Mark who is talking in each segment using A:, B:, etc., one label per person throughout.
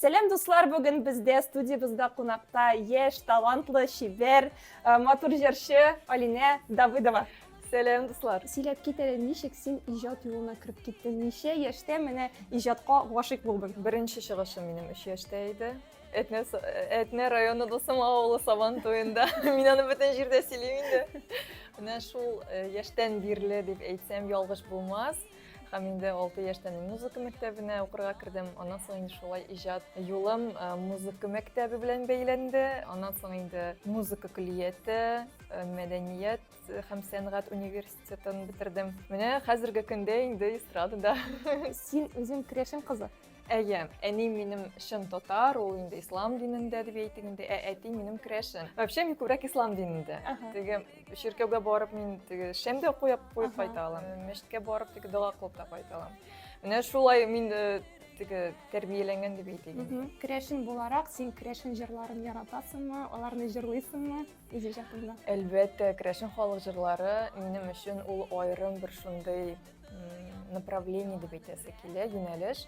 A: Сәлам дуслар, бүген бездә студиябездә кунакта яшь, талантлы, чибәр, э, матур җырчы Алинә Давыдова. Сәлам дуслар.
B: Сөйләп кит әле, ничек
A: син иҗат юлына кереп киттең? Ничә яшьтә менә иҗатка гашыйк булдың? Беренче чыгышым минем
B: 3 яшьтә иде. Әтнә, с- Әтнә районы Дусым авылы Сабан туенда. Мин аны бөтен җирдә сөйлим инде. Менә шул э, яшьтән бирле дип әйтсәм ялгыш булмас. Һәм инде 6 яшьтән музыка мәктәбенә укырга кердем. Аннан соң инде шулай иҗат юлым э, музыка мәктәбе белән бәйләнде. Аннан соң инде музыка көллияте, э, мәдәният һәм сәнгать университетын бетердем. Менә хәзерге көндә инде эстрадада. Син
A: үзең крәшен кызы. Әйе, әни
B: минем чын татар, ул инде ислам динендә дип әйтик инде, ә әти минем керәшен. Вообще мин күбрәк ислам динендә. Теге чиркәүгә барып мин теге шәмдә куеп куеп кайта алам. Мәчеткә барып теге дога кылып та кайта алам. Менә шулай мин э, теге тәрбияләнгән дип әйтик инде. Керәшен буларак
A: син керәшен җырларын яратасыңмы, аларны җырлыйсыңмы үзе җатында? Әлбәттә, керәшен
B: халык җырлары минем өчен ул аерым бер шундый направление дип әйтәсе килә юнәлеш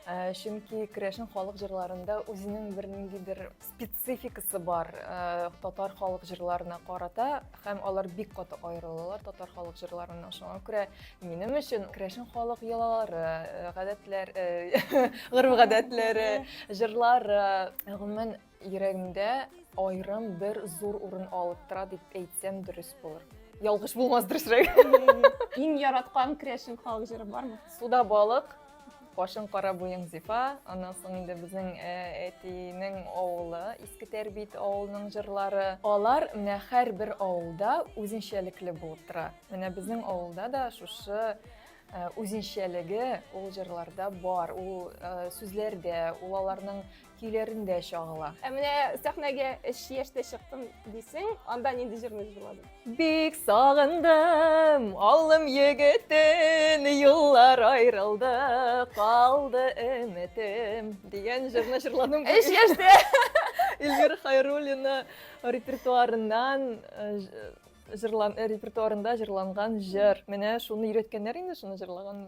B: э, чөнки керәшен халык җырларында үзенең бер ниндидер спецификасы бар э, татар халык җырларына карата һәм алар бик каты аерылалар татар халык җырларыннан шуңа күрә минем өчен керәшен халык йолалары э, гадәтләр гореф гадәтләре җырлары гомумән Йөрәгемдә аерым бер зур урын алып тора дип әйтсәм дөрес булыр. Ялгыш булмас дөресрәк. Иң
A: яраткан керәшен халык җыры бармы? Суда балык,
B: башың кара буең зифа аннан соң инде безнең э, әтинең авылы иске тәрбит авылының җырлары алар менә һәрбер авылда үзенчәлекле булып тора менә безнең авылда да шушы э, үзенчәлеге ул җырларда бар ул э, сүзләрдә ул аларның көйләрендә чагыла. Ә менә сәхнәгә
A: эш яшьтә чыктым дисең, анда нинди җырны җырладың? Бик
B: сагындым, алым егетен, юллар аерылды, калды өметем дигән җырны җырладым. Эш яшьтә
A: Эльвира
B: Хайруллина репертуарыннан э, җырлан э, репертуарында җырланган җыр. Менә шуны өйрәткәннәр инде шуны җырлаган.